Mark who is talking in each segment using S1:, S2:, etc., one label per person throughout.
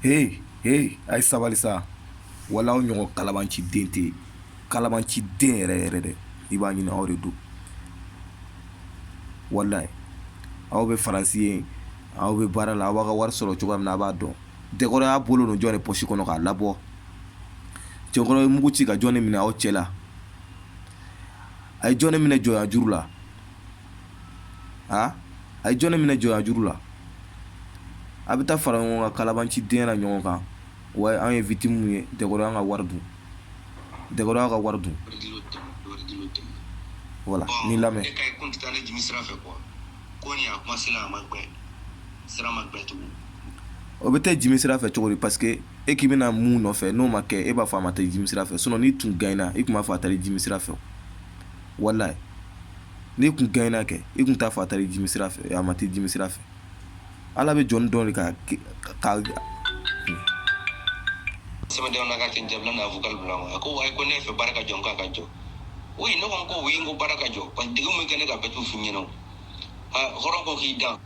S1: He he a ye sabali sa wala aw ɲɔgɔn kalabanciden tɛ kalabanciden yɛrɛ yɛrɛ dɛ i b'a ɲini aw de don walayi aw bɛ faransi yen aw bɛ baara la aw b'a ka wari sɔrɔ cogoya min na a b'a dɔn dɛkɔrɔ y'a bolo don jɔn de pɔsi kɔnɔ k'a labɔ cɛkɔrɔ ye mugu ci ka jɔn de minɛ aw cɛ la a ye jɔn de minɛ jɔnya juru la a a ye jɔn de minɛ jɔnya juru la a bɛ taa fara ɲɔgɔn kan kalabanciden na ɲɔgɔn kan wa an ye victime ye dɛkɔrɔ y'an ka wari dun dɛkɔrɔ y'an ka wari dun wala ni lamɛn o bɛ taa jimi sira fɛ cogo di parce que e k'i bɛna mun nɔfɛ n'o ma kɛ e b'a fɔ a ma taa jimi sira fɛ sinon n'i tun gagnera i tun b'a fɔ a taara jimi sira fɛ walayi n'i tun gagnera kɛ i tun t'a fɔ a taara jimi sira fɛ a ma taa jimi sira fɛ ala bɛ jɔn dɔn ka sɛbɛndenw ka ten jamana n'a fɔ
S2: bila a ko wa ko ne fɛ baara ka jɔ k'a ka jɔ o ne ko ko u ye ko baara ka jɔ ka degun bɛ kan ne ka bɛɛ tu f ɲɛna hɔrɔn ko k'i dan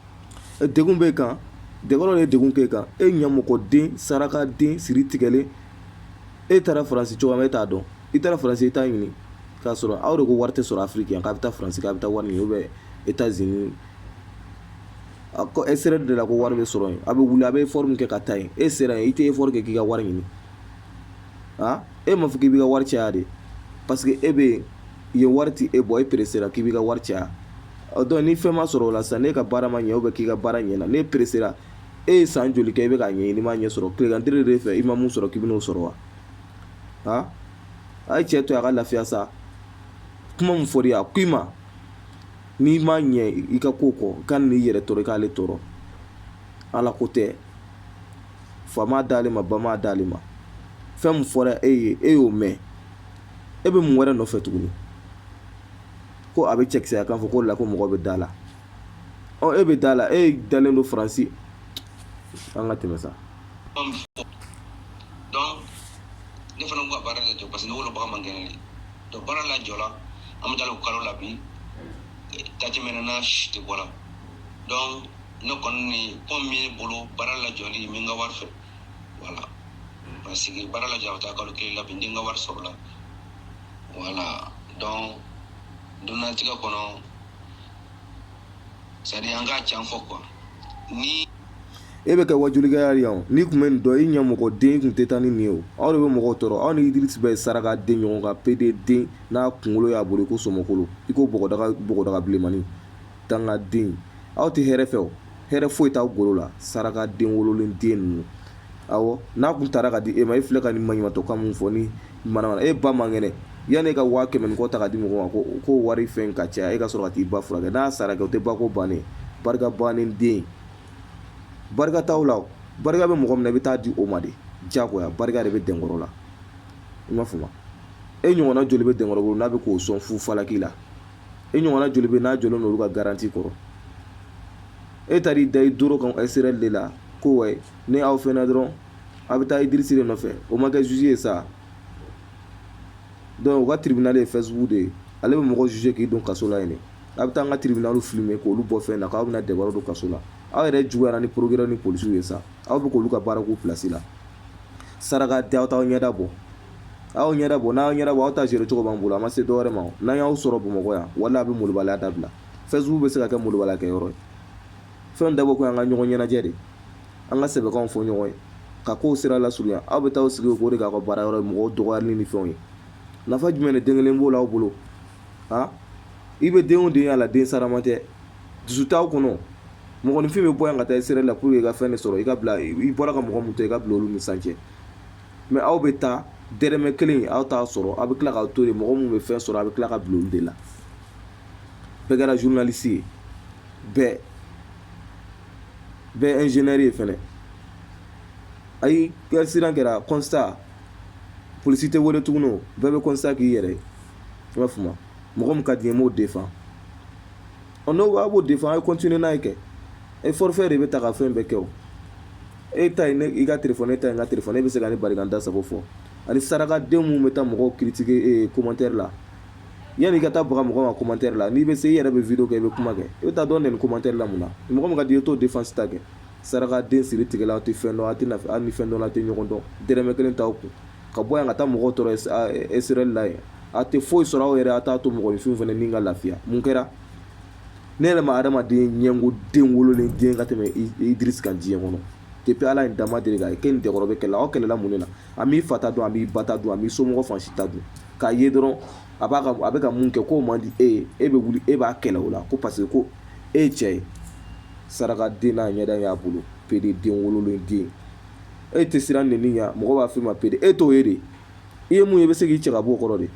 S2: degun
S1: b'e kan dɛkɔrɔ ye degun k'e kan e ɲamɔgɔden sarakaden siri tigɛlen e taara faransi cogoya e t'a dɔn i taara faransi i t'a ɲini k'a sɔrɔ aw de ko wari tɛ sɔrɔ afiriki yan k'a bɛ taa faransi k'a bɛ taa wari ɲini ou bien etazini a ko e sera de la ko wari bɛ sɔrɔ yen a bɛ wuli a bɛ effort min kɛ ka taa yen e sera yen i tɛ effort kɛ k'i ka wari ɲini a e m'a fɔ k'i b'i ka wari caya de parce que e bɛ yen yen wari tɛ e bɔ e peresera k'i b'i ka wari caya ɔ donc ni fɛn ma sɔrɔ o la sisan n'e ka baara ma ɲɛ k'i ka baara ɲɛna n'e peresera e ye san joli kɛ i bɛ k'a ɲɛɲini i m'a ɲɛ sɔrɔ tilegan de fɛ i ma min sɔrɔ k'i bɛn'o sɔrɔ wa a ye cɛ to a ka lafiya sa kuma min fɔr'i ye a ko i ma n'i ma ɲɛ i ka ko kɔ ka n'i yɛrɛ tɔɔrɔ i k'ale tɔɔrɔ ala ko tɛ fa m'a d'ale ma ba m'a d'ale ma fɛn min fɔra e ye e y'o mɛn e bɛ mun wɛrɛ nɔfɛ tuguni ko a bɛ cɛkisɛya kan fɔ ko la ko mɔgɔ bɛ da la ɔ e bɛ da la e dalen don faransi An ka tɛmɛ
S2: sa. Donc ne fana ko ka baara de jɔ parce que ne wolobaga man kɛnɛ de. Donc baara lajɔla an bɛ taa o kalo la bi. Date mɛnɛ na si tɛ bɔra. Donc ne kɔni ni comme min ye bolo baara lajɔli min ka wari fɛ. Voilà. Parce que baara lajɔ a bɛ taa kalo kelen la bi n ka wari sɔrɔ la. Voilà. Donc duniyalatigɛ kɔnɔ e
S1: bɛ kɛ wajulikɛla de ye o n'i tun bɛ nin dɔn i ɲamɔgɔden i tun tɛ taa ni nin ye o aw de bɛ mɔgɔw tɔɔrɔ aw ni Idirisi bɛɛ ye saraka den ɲɔgɔn kan PD den n'a kunkolo y'a bolo i ko sɔmɔkolo i ko bɔgɔdaga bilenmani dangaden aw tɛ hɛrɛ fɛ o hɛrɛ foyi t'aw golo la saraka den wololen den ninnu awɔ n'a kun tara ka di e ma e filɛ ka nin maɲumatɔ kan mun fɔ ni manamana e ba man kɛnɛ yanni e ka waa kɛmɛ ni kɔ ta ka di mɔgɔ ma ko k'o wari fɛn ka caya e ka sɔrɔ ka t'i ba furakɛ n'a sara kɛ o tɛ ba ko bannen barika bannen den barika t'aw la o barika bɛ mɔgɔ min na i bɛ taa di o ma de diyagoya barika de bɛ dɛnkɔrɔ la i m'a faamu e ɲɔgɔnna joli bɛ dɛnkɔrɔ bolo n'a bɛ k'o sɔn fu falaki la e ɲɔgɔnna joli bɛ n'a jɔlen don olu ka garanti kɔrɔ e taar'i da i doro kan Israël de la ko wayi ni aw fɛnɛ dɔrɔn a bɛ taa idirisi de nɔfɛ o ma kɛ zuzi ye sa donc u ka tribunal ye fɛsibuku de ye ale bɛ mɔgɔ zuze k'i don kaso la yen de a bɛ taa an ka tribunal filime k'olu bɔ fɛn na k'aw bɛna dɛnkɔrɔ don kaso la aw yɛrɛ juguyara ni procureur ni polisiw ye sa aw bɛ k'olu ka baara k'u pilasi la saraka tɛ aw t'aw ɲɛda bɔ aw ɲɛda bɔ n'aw ɲɛda bɔ aw ta gérer cogo b'an bolo a ma se dɔwɛrɛ ma n'an y'aw sɔrɔ bamakɔ yan wala a bɛ molobaliya dabila fɛsibuku bɛ se ka kɛ molobaliyakɛ yɔrɔ ye fɛn dabɔ ko an ka ɲɔgɔn ɲɛnajɛ de an ka sɛbɛkanw fɔ ɲɔgɔn ye ka kow sira lasurunya aw bɛ taa sigi o de k'a ka baara yɔrɔ ye mɔgɔw dɔgɔyali ni fɛnw ye nafa jumɛn de den kelen b'o la aw bolo a i bɛ den o den y'a la den sarama tɛ dusu t'aw kɔnɔ mɔgɔninfin bɛ bɔ yan ka taa Israël la pour que i ka fɛn de sɔrɔ i ka bila i bɔra ka mɔgɔ min to i ka bila olu ni san cɛ mais aw bɛ taa dɛrɛmɛ kelen aw t'a sɔrɔ aw bɛ tila k'aw to yen mɔgɔ minnu bɛ fɛn sɔrɔ a bɛ tila ka bila olu de la bɛɛ kɛra journaliste ye bɛɛ bɛɛ ingénieur ye fana hali accident kɛra constat polisi tɛ wele tuguni o bɛɛ bɛ constat k'i yɛrɛ ye i b'a faamu mɔgɔ min ka di n ye n b'o défend ɔ n'o b'a b'o défend a ye continuer n'a ye kɛ e fɔrifɛ de bɛ ta ka fɛn bɛɛ kɛ o e ta ye i ka téléphone ne ta ye n ka téléphone e bɛ se ka ne bali ka n da sago fɔ ani sarakadenw minnu bɛ taa mɔgɔw critiquer commentaire la yanni i ka taa baga mɔgɔ ma commentaire la n'i bɛ se i yɛrɛ bɛ vidéo kɛ i bɛ kuma kɛ e bɛ taa don nin commentaire la mun na mɔgɔ min ka di i ye t'o défense ta kɛ sarakaden siri tigɛla aw tɛ fɛn dɔn a tɛ hali ni fɛn dɔn a tɛ ɲɔgɔn dɔn dɛrɛmɛ kelen t'aw kun ka bɔ yan ka taa mɔgɔw tɔɔrɔ Israël la yen a tɛ foyi sɔrɔ aw yɛrɛ a t'a to mɔgɔninfin fana min ka lafiya mun kɛra ne yɛrɛ ma adamaden ɲɛngo den wololen den ka tɛmɛ idirisi kan diɲɛ kɔnɔ depuis ala ye n da n ma deli k'a ye k'e ni dɛnkɔrɔ bɛ kɛlɛ aw kɛlɛla mun de la a m'i fa ta dun a m'i ba ta dun a m'i somɔgɔ fan si ta dun k'a ye dɔrɔn a b'a ka a bɛ ka mun kɛ k'o man di e ye e bɛ wuli e b'a kɛlɛ o la ko parce que ko e ye cɛ ye saraka den n'a ɲɛda y'a bolo pede den wololen den e tɛ siran nɛni ɲɛ mɔgɔ b'a f'i ma pede e t'o ye dɛ i ye mun ye i bɛ se k'i cɛ ka bɔ o kɔrɔ de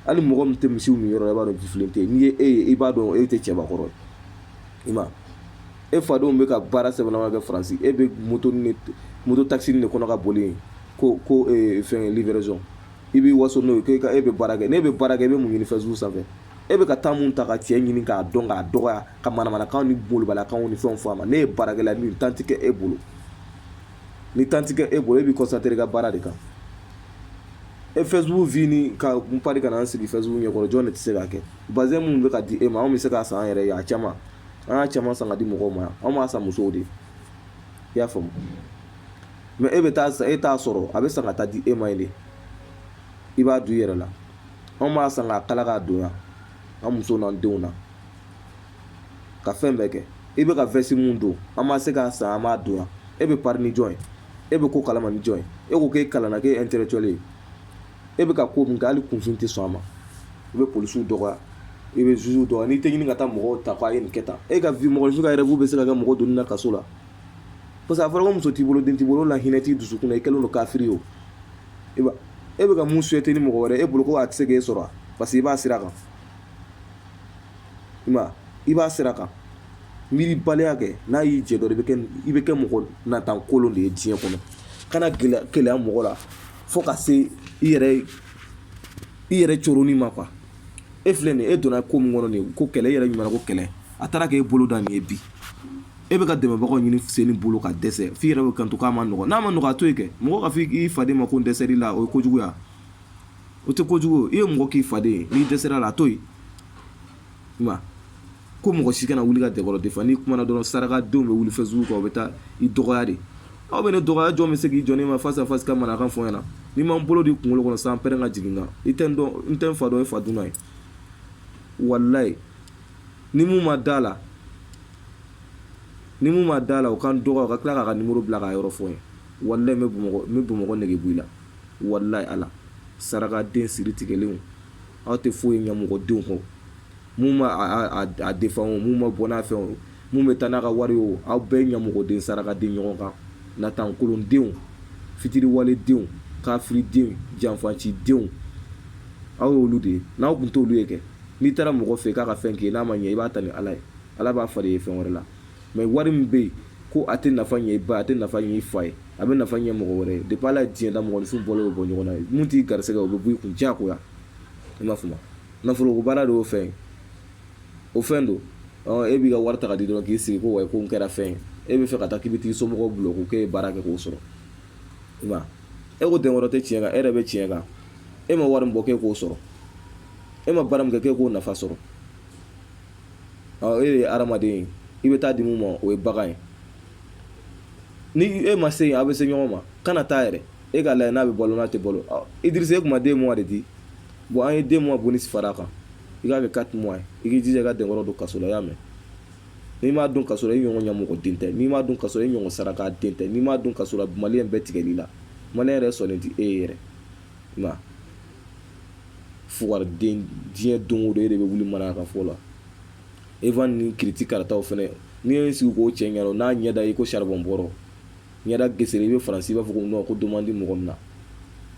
S1: hali mɔgɔ min tɛ misiw minyɔrɔ dɔn i b'a dɔn jifilen tɛ n'i ye e ye i b'a dɔn e tɛ cɛbakɔrɔ ye i ma e fadenw bɛ ka baara sɛbɛma kɛ faransi e bɛ moto moto taxi de kɔnɔ ka boli ko ko fɛn livraison i b'i waso n'o ye e bɛ baara kɛ n'e bɛ baara kɛ i bɛ mun ɲini Facebook sanfɛ e bɛ ka taa min ta ka cɛ ɲini k'a dɔn k'a dɔgɔya ka manamanakan ni malobaliyakanw ni fɛn fɔ a ma n'e ye baarakɛla ni tan tɛ kɛ e bolo ni tan tɛ kɛ e bolo e b'i concentré i ka baara de kan e Facebook vie ka kun pan ka na sigi Facebook ɲɛkɔrɔ jɔn de tɛ se k'a kɛ bazin minnu bɛ ka di e ma anw bɛ se k'a san an yɛrɛ ye a caman an y'a caman san ka di mɔgɔw ma anw b'a san musow de i y'a faamu mais e bɛ taa san e t'a sɔrɔ a bɛ san ka taa di e ma yen de i b'a don i yɛrɛ la anw b'a san k'a kala k'a don yan an muso n'an denw na ka fɛn bɛɛ kɛ i bɛ ka vɛsi min don an bɛ se k'a san an b'a don yan e bɛ pari ni jɔn ye e bɛ ko kalama ni jɔn ye e ko k'e kalanna k'e intellectuel ye e bɛ ka ko min kɛ hali kunfin tɛ sɔn a ma i bɛ polisiw dɔgɔya i bɛ zuzuw dɔgɔya n'i tɛ ɲini ka taa mɔgɔw ta k'a ye nin kɛ tan e ka vie mɔgɔninfin ka rêve bɛ se ka kɛ mɔgɔ donni na kaso la parce que a fɔra ko muso t'i bolo den t'i bolo la hinɛ t'i dusukun na i kɛlen don kafiri ye o e b'a e bɛ ka min souhaiter ni mɔgɔ wɛrɛ e bolo ko a tɛ se k'e sɔrɔ parce que i b'a sira kan i ma i b'a sira kan miiribaliya kɛ n'a y'i jɛ dɔrɔn i bɛ kɛ mɔgɔ natan kolon de ye diɲɛ kɔnɔ kana keleya mɔgɔ la fo ka se i yɛrɛ i yɛrɛ coronni ma quoi e filɛ nin ye e donna ko min kɔnɔ nin ko kɛlɛ e yɛrɛ ɲuman ko kɛlɛ a taara k'e bolo da nin ye bi e bɛ ka dɛmɛbagaw ɲini sen bolo ka dɛsɛ f'i yɛrɛ bɛ kanto k'a ma nɔgɔ n'a ma nɔgɔ a to yen kɛ mɔgɔ ka fɔ i faden ma ko n dɛsɛr'i la o ye kojuguya o tɛ kojugu i ye mɔgɔ k'i faden ye n'i dɛsɛr'a la a to yen i ma ko mɔgɔ si kana wuli ka dɛkɔrɔ défendre n'i kumana dɔrɔn sarakadenw bɛ wuli Facebook kan u bɛ taa i dɔgɔya de aw bɛ ne dɔgɔya jɔn bɛ se k'i jɔ ne ma face à face ka manakan fɔ n ɲɛna ni n ma n bolo d'i kunkolo kɔnɔ sanpɛrɛn ka jigin n kan i tɛ n dɔn n tɛ n fa dɔn i fa dunan ye walayi ni min m'a da la ni min m'a da la o ka n dɔgɔya o ka tila k'a ka nimoro bila k'a yɔrɔ fɔ n ye walayi n bɛ bamakɔ n bɛ bamakɔ nege bɔ i la Walayi Ala, sarakaden siritigɛlenw, aw tɛ foyi ye ɲamɔgɔdenw kɔ. Min bɛ a défendre o, min bɛ bɔ n'a fɛn o, min bɛ taa n'a ka wari ye o, aw bɛɛ ɲamɔgɔden sarakaden ɲɔgɔn kan, natankolondenw, fitiriwaledenw, kafiridenw, janfacidenw, aw ye olu de ye. N'aw tun t'olu ye kɛ, n'i taara mɔgɔ fɛ yen k'a ka fɛn k'i ye, n'a ma ɲɛ, i b'a ta ni Ala ye. Ala b'a falen i ye fɛn wɛrɛ la. Mais wari min bɛ yen, ko a tɛ nafa ɲɛ i ba ye, a tɛ nafa ɲɛ i fa ye. a bɛ nafa ɲɛ mɔgɔ wɛrɛ ye depi ala ye diɲɛ da mɔgɔninfin bɔ o bɔ ɲɔgɔn na ye min t'i garisɛgɛ o bɛ b'i kun diyagoya i m'a faamu nafolo ko baara de y'o fɛn ye o fɛn don e b'i ka wari ta k'a di dɔrɔn k'i sigi ko wa ko n kɛra fɛn ye e bɛ fɛ ka taa k'i bɛ t'i somɔgɔw bulon ko k'e ye baara kɛ k'o sɔrɔ i ma e ko denkɔrɔ tɛ tiɲɛ kan e yɛrɛ bɛ tiɲɛ kan e ma wari min bɔ k'e k'o sɔrɔ e ma baara min kɛ k'e k'o nafa sɔrɔ e de ye hadamaden ye i bɛ taa di mun ma o ye bagan ye ni e ma se yen a bɛ se ɲɔgɔn ma kana taa yɛrɛ e k'a lajɛ n'a bɛ balo n'a tɛ balo idirisa e ko n ma deux mois de di bon an ye deux mois bonus fara a kan i k'a kɛ quatre mois ye i k'i jija ka denkɔrɔ don kaso la y'a mɛn n'i m'a don kaso la i ɲɔgɔn ɲamɔgɔden tɛ n'i m'a don kaso la i ɲɔgɔn saraka den tɛ n'i m'a don kaso la maliyɛn bɛɛ tigɛl'i la maliyɛn yɛrɛ sɔnnen tɛ e ye yɛrɛ nka fugariden diɲɛ don o don e de bɛ wuli mara ka fɔ la e ni kiti karataw fana n'i ye sigi k'o cɛ ɲɛ n'a ɲɛda i ko saribɔn bɔrɔ ɲɛda gesere i bɛ faransi i b'a fɔ ko don di mɔgɔ min na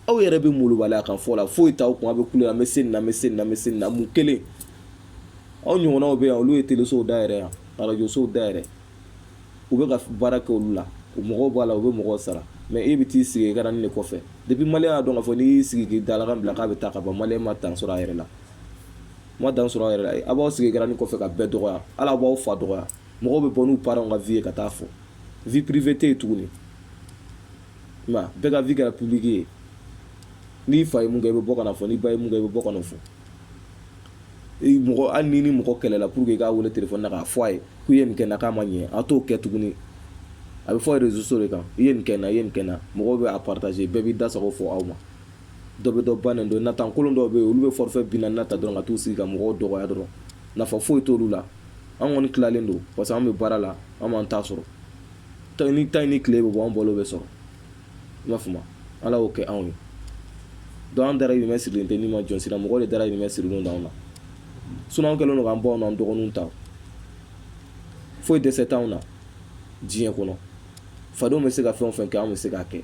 S1: aw yɛrɛ bɛ malobaliya kan fɔ la foyi t'aw kun aw bɛ kule an bɛ se na bɛ se na bɛ se na mun kelen aw ɲɔgɔnw bɛ yan olu ye telesow dayɛlɛ yan arajosow dayɛlɛ u bɛ ka baara kɛ olu la u mɔgɔw b'a la u bɛ mɔgɔw sara mɛ e bɛ t'i sigi écran de kɔfɛ depi maliyɛn y'a dɔn k'a fɔ n'i y'i sigi k'i dalakan bila k'a bɛ taa ka bɔ maliyɛn ma dan sɔrɔ a yɛrɛ la ma dan sɔrɔ a yɛrɛ aw b'aw sigi écran kɔfɛ ka bɛɛ dɔgɔya ala b'aw fa dɔgɔya mɔgɔw bɛ bɔ n'u parents ka vie ye ka taa fɔ vie privée tɛ yen tuguni nka bɛɛ ka vie kɛra publique ye n'i fa ye mun kɛ i bɛ bɔ ka na fɔ n'i ba ye mun kɛ i bɛ bɔ ka na fɔ mɔgɔ hali ni ni mɔgɔ kɛlɛla pour que i k'a wele telefɔni na k'a fɔ a ye k'u ye nin kɛ na k'a ma ɲɛ a t'o kɛ tuguni a bɛ fɔ réseaux sociaux de kan i ye nin kɛ n na i ye nin kɛ n na mɔgɔw bɛ a partager bɛɛ b'i da sago fɔ aw ma dɔ bɛ dɔ ba nɛni don natan kolon dɔw bɛ yen olu bɛ forfait bi naani ta dɔrɔn ka t'u sigi ka mɔgɔw dɔgɔya dɔrɔn nafa foyi t'olu la an kɔni tilalen don parce que an bɛ baara la an b'an ta sɔrɔ ta ni ta ni tile bɛ bɔ an balo bɛ sɔrɔ i m'a faamu ala y'o kɛ anw ye donc an dahirimɛ sirilen tɛ ni ma jɔn si ra mɔgɔ de dahirimɛ sirilen d'anw na sinon an kɛlen don k'an baw n'an dɔgɔninw ta foyi dɛsɛ t'anw na diɲɛ kɔnɔ fadenw bɛ se ka fɛn o fɛn kɛ anw bɛ se k'a kɛ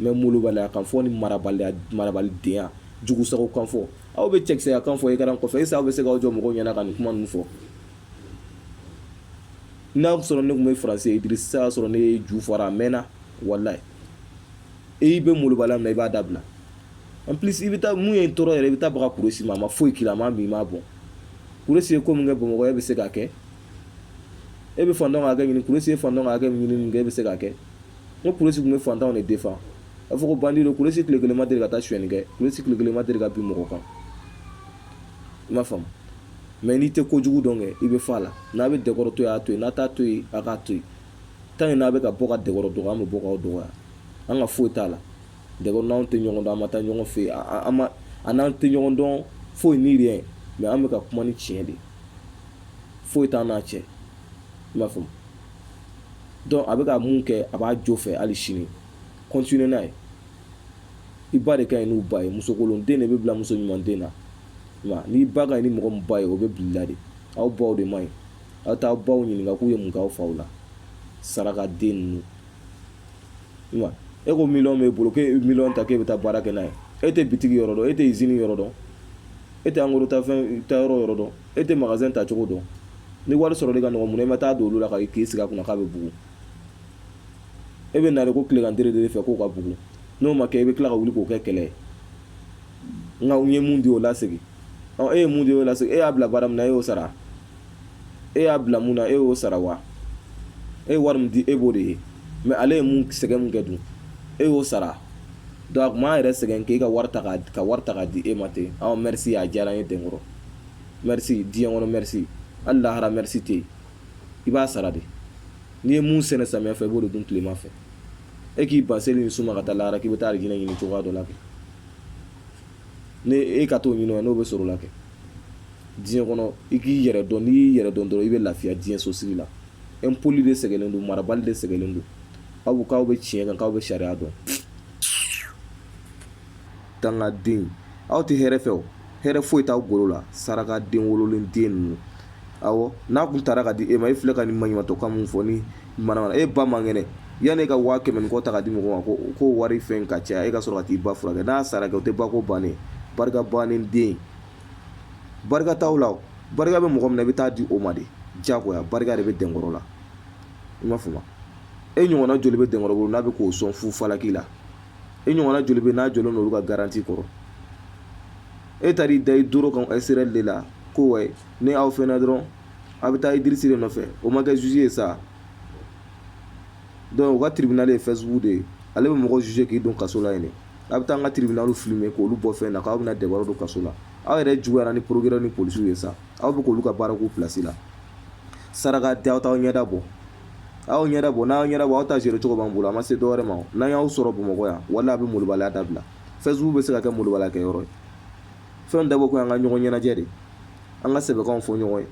S1: mɛ molobaliya kan fɔ ni marabaliya marabalidenya jugu sago kan fɔ aw bɛ cɛkisɛya kan fɔ écran kɔfɛ est-ce que aw bɛ se k'aw jɔ mɔgɔw ɲɛna ka nin kuma ninnu fɔ n'a sɔrɔ ne tun bɛ faransi idirisa y'a sɔrɔ ne y'i ju fara a mɛnna walayi i bɛ molobaliya min na i b'a dabila en plus i bɛ taa mun ye n tɔɔrɔ yɛrɛ i bɛ taa baga kuresi ma a ma foyi k'i la a ma bin i ma bon kuresi ye ko min kɛ bamakɔ e bɛ se k'a kɛ e bɛ fantanw hakɛ ɲini kuresi ye fantanw hakɛ ɲini min kɛ e bɛ se k'a kɛ n ko kuresi tun bɛ fantanw de defan a fɔ ko bandi don kuresi tile kelen ma deli ka taa suyɛnni kɛ kuresi tile kelen ma deli ka bin mɔgɔ kan i m'a faamu mɛ n'i tɛ kojugu dɔn kɛ i bɛ fɔ a la n'a bɛ dɛnkɔrɔ to yen a to yen n'a t'a to yen a k'a to yen tanke n'a bɛ ka bɔ ka dɛnkɔrɔ dɔgɔya an bɛ bɔ k'aw dɔgɔya an ka foyi t'a la dɛnkɔrɔ n'anw tɛ ɲɔgɔn dɔn an ma taa ɲɔgɔn fɛ yen an ma an n'an tɛ ɲɔgɔn dɔn foyi ni riyɛn mɛ an bɛ ka kuma ni tiɲɛ de foyi t'an n'a cɛ i m'a faamu dɔnku a bɛ ka mun kɛ a b'a jo fɛ hali sini kɔntine n'a ye i ba de ka ɲi n'u ba ye musokolon den de bɛ bila muso ɲuman den na nka n'i ba ka ɲi ni mɔgɔ min ba ye o bɛ bila la de aw baw de man ɲi aw t'aw baw ɲininka k'u ye mun k'aw faw la saraka den ninnu nka e ko miliyɔn b'e bolo k'e miliyɔn ta k'e bɛ taa baara kɛ n'a ye e tɛ bitigi yɔrɔ dɔn e tɛ izini yɔrɔ dɔn e tɛ angoro ta fɛn ta yɔrɔ yɔrɔ dɔn e tɛ magazɛn ta cogo dɔn ni wari sɔrɔli ka nɔgɔ mun na i ma taa don olu la ka k'i sigi a kunna k'a bɛ bugun e bɛ na ko tilegan tere de fɛ k'o ka bugun n'o ma kɛ i bɛ tila ka wuli k'o kɛ kɛlɛ ye nka n ye mun di o lasegin e ye mun di o lasegin e y'a bila baara min na e y'o sara e y'a bila mun na e y'o sara wa e ye wari min di e b'o de ye mɛ ale ye mun sɛgɛn mun kɛ dun e y'o sara dɔnku a tun b'a yɛrɛ sɛgɛn k'e ka wari ta k'a di e ma ten aw mɛrisi a diyara n ye dɛnkɔrɔ mɛrisi diɲɛ kɔnɔ mɛrisi hali lahara mɛrisi tɛ yen i b'a sara de n'i ye mun sɛnɛ samiya fɛ i b'o de dun tilema fɛ e k'i ban seli ni sun ma ka taa lahara k'i bɛ taa alijinɛ ɲini cogoya dɔ la kɛ ni e ka t'o ɲini n'o bɛ sɔrɔ o la kɛ diɲɛ kɔnɔ i k'i yɛrɛ dɔn n'i y'i yɛrɛ dɔn dɔrɔn i bɛ lafiya diɲɛ sosigi la impoli de sɛgɛnnen don marabali de sɛgɛnnen don aw k'aw bɛ tiɲɛ kan k'aw bɛ sariya dɔn dangaden aw tɛ hɛrɛ fɛ o hɛrɛ foyi t'aw golo la saraka den wololen den ninnu awɔ n'a kun taara ka di e ma e filɛ ka nin maɲumatɔkan mun fɔ ni manamana e ba man kɛnɛ yanni e ka waa kɛmɛ ni kɔ ta ka di mɔgɔ ma ko ko wari fɛn ka caya e ka sɔrɔ ka t'i ba furakɛ n'a sara kɛ o tɛ ba ko bannen barika bannen den barika t'aw la o barika bɛ mɔgɔ min na i bɛ taa di o ma de jagoya barika de bɛ dɛnkɔrɔ la i m'a faamu e ɲɔgɔnna joli bɛ dɛnkɔrɔ bolo n'a bɛ k'o sɔn fu falaki la i ɲɔgɔnna joli bɛ n'a jɔlen don olu ka garanti kɔrɔ e taar'i da i doro kan ɛsirɛli de la ko wa ni aw fɛnɛ dɔrɔn a bɛ taa idirisi de nɔfɛ o ma kɛ zuzi ye sa dɔnku u ka tiribinali ye fɛsibuku de ye ale bɛ mɔgɔ zuze k'i don kaso la yen de a bɛ taa an ka tiribinaliw filime k'olu bɔ fɛn na k'aw bɛna dɛbaro don kaso la aw yɛrɛ juguyara ni porokirɛri ni polisiw ye sa aw bɛ k'olu ka baara k'u pilasi la saraka den aw t'aw ɲɛda bɔ aw ɲɛda bɔ n'aw ɲɛda bɔ aw ta gérer cogo b'an bolo a ma se dɔwɛrɛ ma n'an y'aw sɔrɔ bamakɔ yan wala a bɛ molobaliya dabila fɛsibuku bɛ se ka kɛ molobaliya kɛ yɔrɔ ye fɛn dabɔ ko an ka ɲɔgɔn ɲɛnajɛ de an ka sɛbɛkanw fɔ ɲɔgɔn ye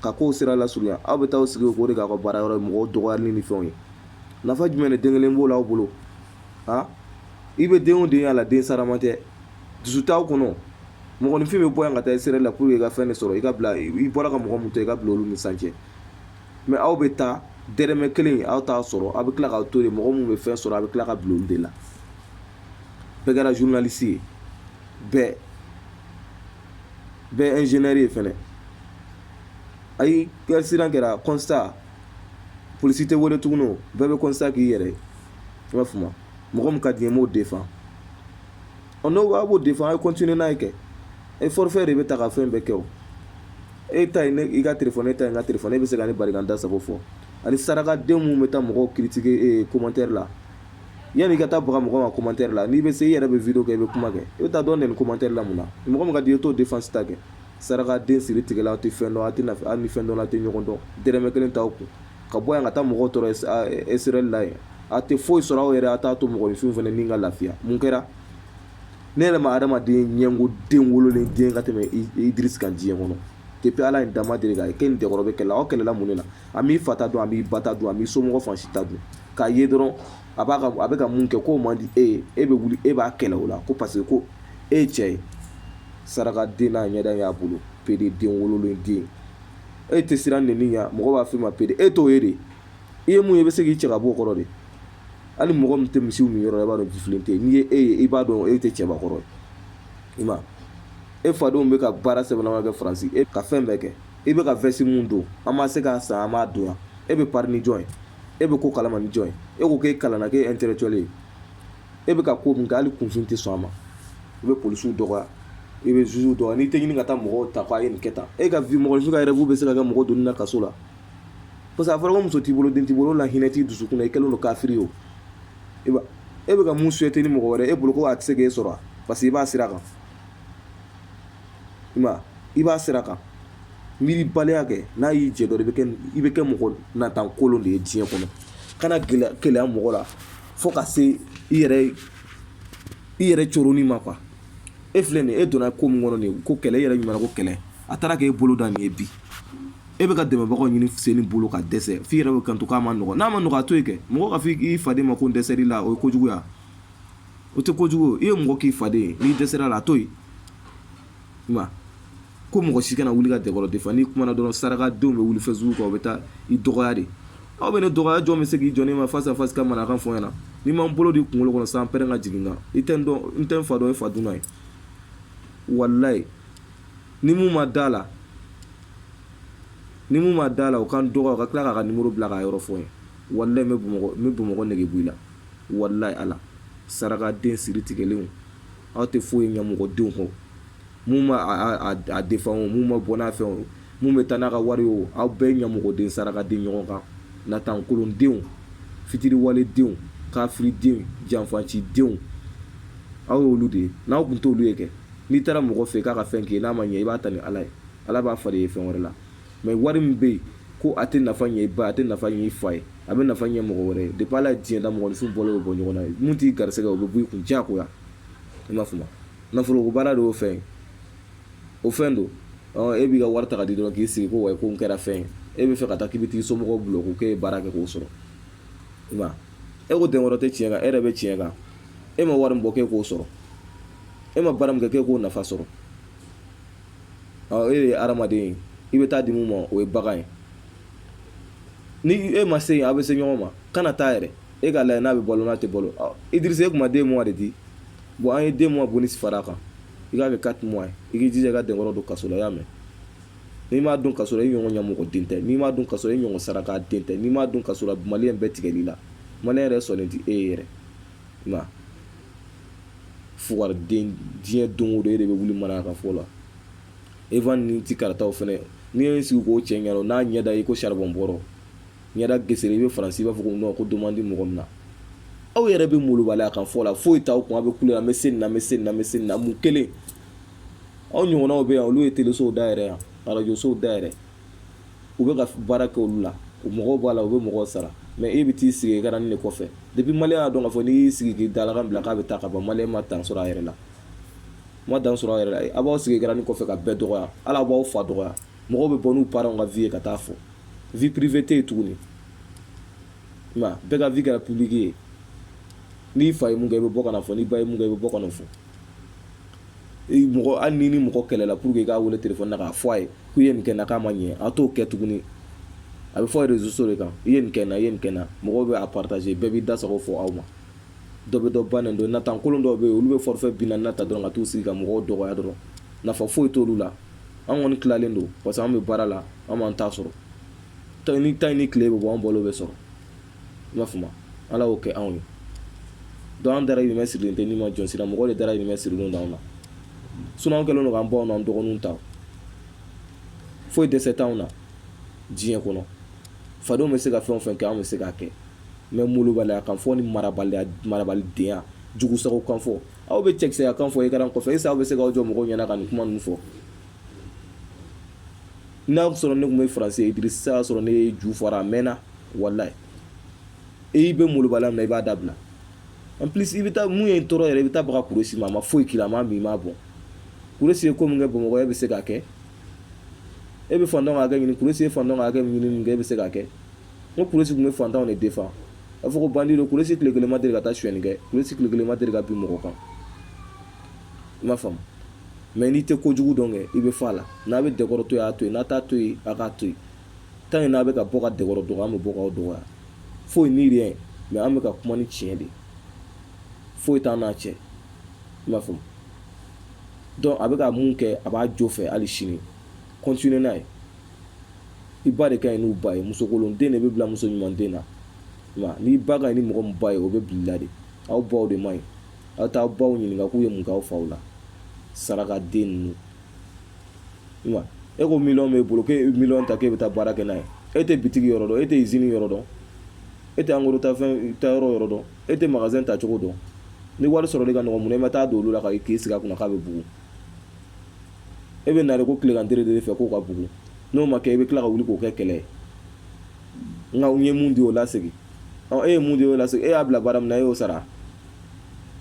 S1: ka kow sira lasurunya aw bɛ taa aw sigi k'o de k'aw ka baara yɔrɔ ye mɔgɔw dɔgɔyali ni fɛnw ye nafa jumɛn de den kelen b'o la aw bolo ha i bɛ den o den y'a la den sarama tɛ dusu t'aw kɔnɔ mɔgɔninfin bɛ bɔ yan ka taa Israɛl la pour que i ka fɛn de sɔrɔ i ka bila i bɔra ka mɔgɔ mun to i ka bila olu ni san cɛ mais aw bɛ taa dɛrɛmɛ kelen aw t'a sɔrɔ aw bɛ tila k'aw to yen mɔgɔ min bɛ fɛn sɔrɔ a bɛ tila ka bila olu de la bɛɛ kɛra journaliste ye bɛɛ bɛɛ ingénieur ye fɛnɛ accident kɛra constat polisi tɛ wele tuguni bɛɛ bɛ constat k'i yɛrɛ i b'a faamu mɔgɔ min ka di n ye n b'o défend Ɔ n'o b'a b'o défend a ye continuer n'a ye kɛ e forfait de bɛ ta ka fɛn bɛɛ kɛ o e ta ye ne i ka telefɔni e ta ye n ka telefɔni e bɛ se ka ne bari ka n da sago fɔ ani sarakaden minnu bɛ taa mɔgɔw critiquer ee commentaire la yanni i ka taa baga mɔgɔ ma commentaire la n'i bɛ se i yɛrɛ bɛ video kɛ i bɛ kuma kɛ i bɛ taa dɔ nɛni commentaire la mun na mɔgɔ min ka di i ye t'o défense ta kɛ sarakaden siri tigɛla aw tɛ fɛn dɔn aw tɛ nafa hali ni fɛn dɔn aw tɛ ɲɔgɔn dɔn dɛrɛmɛ kelen t'aw kun ka bɔ yan ka taa mɔgɔw tɔɔrɔ Israɛl la yen a tɛ foyi sɔrɔ aw yɛrɛ a t'a to mɔgɔninfinw fana ni ka lafiya mun kɛra ne yɛrɛ ma adamaden ɲɛngo den wololen den ka tɛmɛ Idris kan diɲɛ kɔnɔ depuis ala ye n da n ma deli k'a ye k'e ni dɛkɔrɔ bɛ kɛlɛ aw kɛlɛla mun de la a m'i fa ta dun a m'i ba ta dun a m'i somɔgɔ fan si ta dun k'a ye dɔrɔn a b'a ka a bɛ ka mun kɛ k'o man di e ye e bɛ wuli e b'a kɛlɛ o la ko parce que ko e ye cɛ ye sarakaden n'a ɲɛda y'a bolo pede den wololen den e tɛ siran nɛni ɲɛ mɔgɔ b'a f'i ma pede e t'o ye de i ye mun ye i bɛ se k'i cɛ ka bɔ o kɔrɔ de hali mɔgɔ min tɛ misi min yɔrɔ i b'a dɔn jifilen tɛ n'i ye e ye i b'a dɔn e tɛ cɛbakɔrɔ ye i ma e fadenw bɛ ka baara sɛbɛma kɛ faransi e ka fɛn bɛɛ kɛ i bɛ ka vɛsi min don an ma se k'a san an m'a don yan e bɛ pari ni jɔn ye e bɛ ko kalama ni jɔn ye e ko k'e kalanna k'e intellectuel ye e bɛ ka ko min kɛ hali kunfin tɛ sɔn a ma i bɛ polisiw dɔgɔya i bɛ juges dɔgɔya n'i tɛ ɲini ka taa mɔgɔw ta k'a ye nin kɛ tan e ka vie mɔgɔ ka rêve bɛ se ka kɛ mɔgɔ donni na kaso la parce que a fɔra muso t'i bolo den t'i bolo la hinɛ t'i dusukun na i kɛlen don kafiri ye o e bɛ ka mun souhaiter ni mɔgɔ wɛrɛ e bolo ko a tɛ se k'e sɔrɔ parce que i b'a sira kan i ma i b'a sira kan miiribaliya kɛ n'a y'i jɛ dɔrɔn i bɛ kɛ mɔgɔ natan kolon de ye diɲɛ kɔnɔ kana gɛlɛya mɔgɔ la fo ka se i yɛrɛ coroni ma quoi e filɛ nin e donna ko min kɔnɔ nin ko kɛlɛ e yɛrɛ ɲuman ko kɛlɛ a taara k'e bolo da nin ye bi e bɛ ka dɛmɛbagaw ɲini sen bolo ka dɛsɛ f'i yɛrɛ bɛ kanto k'a man nɔgɔ n'a man nɔgɔ a to yen kɛ mɔgɔ k'a f'i faden ma ko n dɛsɛr'i la o ye kojuguya o tɛ kojugu ye mɔgɔ k'i faden ye n'i dɛsɛr'a la a to yen ko mɔgɔ si kana wuli ka denkɔrɔ défend n'i kumana dɔrɔn saraka denw bɛ wuli Facebook kan u bɛ taa i dɔgɔya de aw bɛ ne dɔgɔya jɔn bɛ se k'i jɔ ne ma face à face ka mana kan fɔ ɲɛna ni n ma n bolo d'i kunkolo kɔnɔ san pɛrɛn ka jigin kan i tɛ n tɛ n fa dɔn i fa dunan ye walayi ni mun ma da la ni mun ma da la o ka n dɔgɔ ka tila k'a ka numéro bila k'a yɔrɔ fɔ n ye walayi n bɛ bamakɔ nege b'i la walayi ala saraka den siri tigɛlenw aw tɛ foyi ye ɲɛmɔgɔdenw kɔ minnu b'a défend o minnu ma bɔ n'a fɛ o minnu bɛ taa n'a ka wari o aw bɛɛ ɲɛmɔgɔden saraka den ɲɔgɔn kan natankolondenw fitiriwaledenw kafiridenw janfacidenw aw ye olu de ye n'aw tun t'olu ye kɛ n'i taara mɔgɔ fɛ k'a ka fɛn k'i n'a ma ɲɛ i b'a ta ni ala ye ala b'a fa i ye fɛn wɛrɛ la mais wari min bɛ yen ko a tɛ nafa ɲɛ i ba a tɛ nafa ɲɛ i fa ye a bɛ nafa ɲɛ mɔgɔ wɛrɛ ye depuis ala ye diɲɛ da mɔgɔninfin bɔ o bɔ ɲɔgɔn na ye min t'i garisɛgɛ o bɛ b'i kun diyagoya i m'a faamu nafolo ko baara de y'o fɛn ye o fɛn don e b'i ka wari ta ka di dɔrɔn k'i sigi ko wa ko n kɛra fɛn ye e bɛ fɛ ka taa k'i bɛ t'i somɔgɔw bulon ko k'e ye baara kɛ k'o sɔrɔ i ma e ko den wɛrɛ tɛ tiɲɛ kan e yɛrɛ bɛ tiɲɛ kan e ma wari min bɔ k'e k'o sɔrɔ e ma baara min kɛ k'e k'o nafa sɔrɔ e de ye hadamaden ye i bɛ taa di min ma o ye bagan ye ni e ma se yen a bɛ se ɲɔgɔn ma kana taa yɛrɛ e k'a lajɛ n'a bɛ balo n'a tɛ balo Idrissa e kuma deux mois de di bon an ye deux mois bonus fara kan i k'a kɛ quatre mois ye i k'i jija ka denkɔrɔ don kaso la i y'a mɛn n'i m'a don kaso la i ɲɔgɔn ɲɛmɔgɔ den tɛ n'i m'a don kaso la i ɲɔgɔn saraka den tɛ n'i m'a don kaso la mali bɛɛ tigɛl'i la mali yɛrɛ sɔnnen tɛ e ye yɛrɛ nka fugden diɲɛ don o don e de bɛ wuli mara ka fɔ la e ni tɛ karataw fana n'i ye sigi k'o cɛ ɲɛ n'a ɲɛda i ko saribɔn bɔra ɲɛda geseri i bɛ faransi b'a fɔ ko nɔ ko duman di mɔgɔ min na aw yɛrɛ bɛ molobaliya kan fɔ la foyi t'aw kun a bɛ kule an bɛ se na bɛ se na bɛ se na mun kelen aw ɲɔgɔnw bɛ yan olu ye telisow da yɛrɛ yan arajsow da yɛrɛ u bɛ ka baara kɛ olu la u mɔgɔw b'a la u bɛ mɔgɔw sara mais e bɛ t'i sigi écran de kɔfɛ depuis mali y'a dɔn k'a fɔ n'i y'i sigi k'i dalakan bila k'a bɛ taa ka bɔ mali ma dan sɔrɔ a yɛrɛ la ma dan sɔrɔ a yɛrɛ la a b'aw sigi écran kɔfɛ ka bɛɛ dɔgɔya ala b'aw fa dɔgɔya mɔgɔw bɛ bɔ n'u parents ka vie ye ka taa fɔ vie privée tɛ yen tuguni nka bɛɛ ka vie kɛra publique ye n'i fa ye mun kɛ i bɛ bɔ ka na fɔ n'i ba ye mun kɛ i bɛ bɔ ka na fɔ mɔgɔ hali ni ni mɔgɔ kɛlɛla pour que i k'a weele téléphone na k'a fɔ a ye k'u ye nin kɛ n na k'a ma ɲɛ a t'o kɛ tuguni a bɛ fɔ réseaux sociaux de kan i ye nin kɛ n na i ye nin kɛ n na mɔgɔw bɛ a partager bɛɛ b'i da sago fɔ aw ma dɔ bɛ dɔ ba nɛni don natankolon dɔw bɛ yen olu bɛ forfait binaani ta dɔrɔn ka t'u sigi ka mɔgɔw dɔgɔya dɔrɔn nafa foyi t'olu la an kɔni tilalen don parce que an bɛ baara la an b'an ta sɔrɔ tan ni tan ni tile bɛ bɔ an bolo bɛ sɔrɔ i m'a faamu ala y'o kɛ anw ye donc an dahirimɛ sirilen tɛ nima jɔn si ra mɔgɔ de dahirimɛ sirilen d'anw na sinon an kɛlen don k'an baw n'an dɔgɔninw ta foyi dɛsɛ t'anw na diɲɛ kɔnɔ fadenw bɛ se ka fɛn o fɛn kɛ anw bɛ se k'a kɛ mais molobaliya kan fɔ ni marabaliya marabalidenya jugu sago kan fɔ aw bɛ cɛkisɛya kan fɔ écran kɔfɛ est-ce que aw bɛ se k'aw jɔ mɔgɔw ɲɛna ka nin kuma ninnu fɔ n'a sɔrɔ ne tun bɛ faransi idrissa y'a sɔrɔ ne y'e ju fara a mɛnna walayi i bɛ molobaliya min na i b'a dabila en plus i bɛ taa mun ye n tɔɔrɔ yɛrɛ i bɛ taa baga kuresi ma a ma foyi k'i la a ma min b'a bɔ kuresi ye ko min kɛ bamakɔ e bɛ se k'a kɛ e bɛ fantanw ka hakɛ ɲini kuresi ye fantanw ka hakɛ ɲini min kɛ e bɛ se k'a kɛ ko kuresi tun bɛ fantanw de défend a fɔ ko bandi don kuresi tile kelen ma deli ka taa sonyɛni kɛ kuresi tile kelen ma deli ka bin mɔgɔ kan i m'a faamu mais n'i tɛ ko kojugu dɔn kɛ i bɛ fɔ a la n'a bɛ denkɔrɔ to yen a to n'a t'a to yen a k'a to yen tant que n'a bɛ ka bɔ ka denkɔrɔ dɔgɔya an bɛ bɔ k'aw dɔgɔya foyi ni rien mais an bɛ ka kuma ni tiɲɛ de foyi t'an n'a cɛ i m'a faamu donc a bɛ ka mun kɛ a b'a jo fɛ hali sini continuer n'a ye i ba de ka ɲi n'u ba ye musokolonden de bɛ bila muso ɲumanden na i m'a n'i ba ka ɲi ni mɔgɔ min ba ye o bɛ bila i la de aw baw de man ɲi aw t'aw baw ɲininka k'u ye mun k'aw faw la sarakaden ninnu e ko miliyɔn b'e bolo k'e miliyɔn ta k'e bɛ taa baara kɛ n'a ye e tɛ bitigi yɔrɔ dɔn e tɛ usine yɔrɔ dɔn e tɛ en gros ta fɛn ta yɔrɔ yɔrɔ dɔn e tɛ magasin ta cogo dɔn ni wari sɔrɔ de ka nɔgɔn mun na e ma taa don olu la ka k'i sigi a kunna k'a bɛ bugu e bɛ nare ko tilegan teri de fɛ k'o ka bugu n'o ma kɛ i bɛ tila ka wuli k'o kɛ kɛlɛ ye nka u ye mun di o lasegin e ye mun di o lasegin e y'a bila baara min na e y'o sara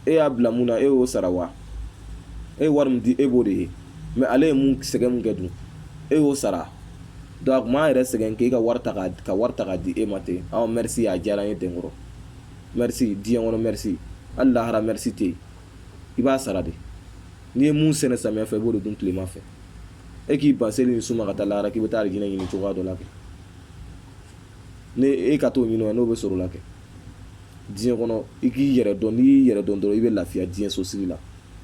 S1: e y'a bila mun na e y'o sara wa e ye wari min di e b'o de ye mais ale ye mun sɛgɛn mun kɛ dun e y'o sara donc a kun b'a yɛrɛ sɛgɛn k'e ka wari ta k'a di e ma ten aw merci a diyara n ye denkɔrɔ merci diɲɛ kɔnɔ merci hali lahara merci tɛ yen i b'a sara de n'i ye mun sɛnɛ samiya fɛ i b'o de dun tilema fɛ e k'i ban seli ni sun ma ka taa lahara k'i bɛ taa alijinɛ ɲini cogoya dɔ la kɛ ni e ka t'o ɲini n'o bɛ sɔrɔ la kɛ diɲɛ kɔnɔ i k'i yɛrɛ dɔn n'i y'i yɛrɛ dɔn dɔrɔn i bɛ lafiya diɲɛ sosigi la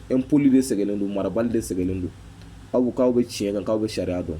S1: impoli de sɛgɛnnen don marabali de sɛgɛnnen don aw k'aw bɛ tiɲɛ kan k'aw bɛ sariya dɔn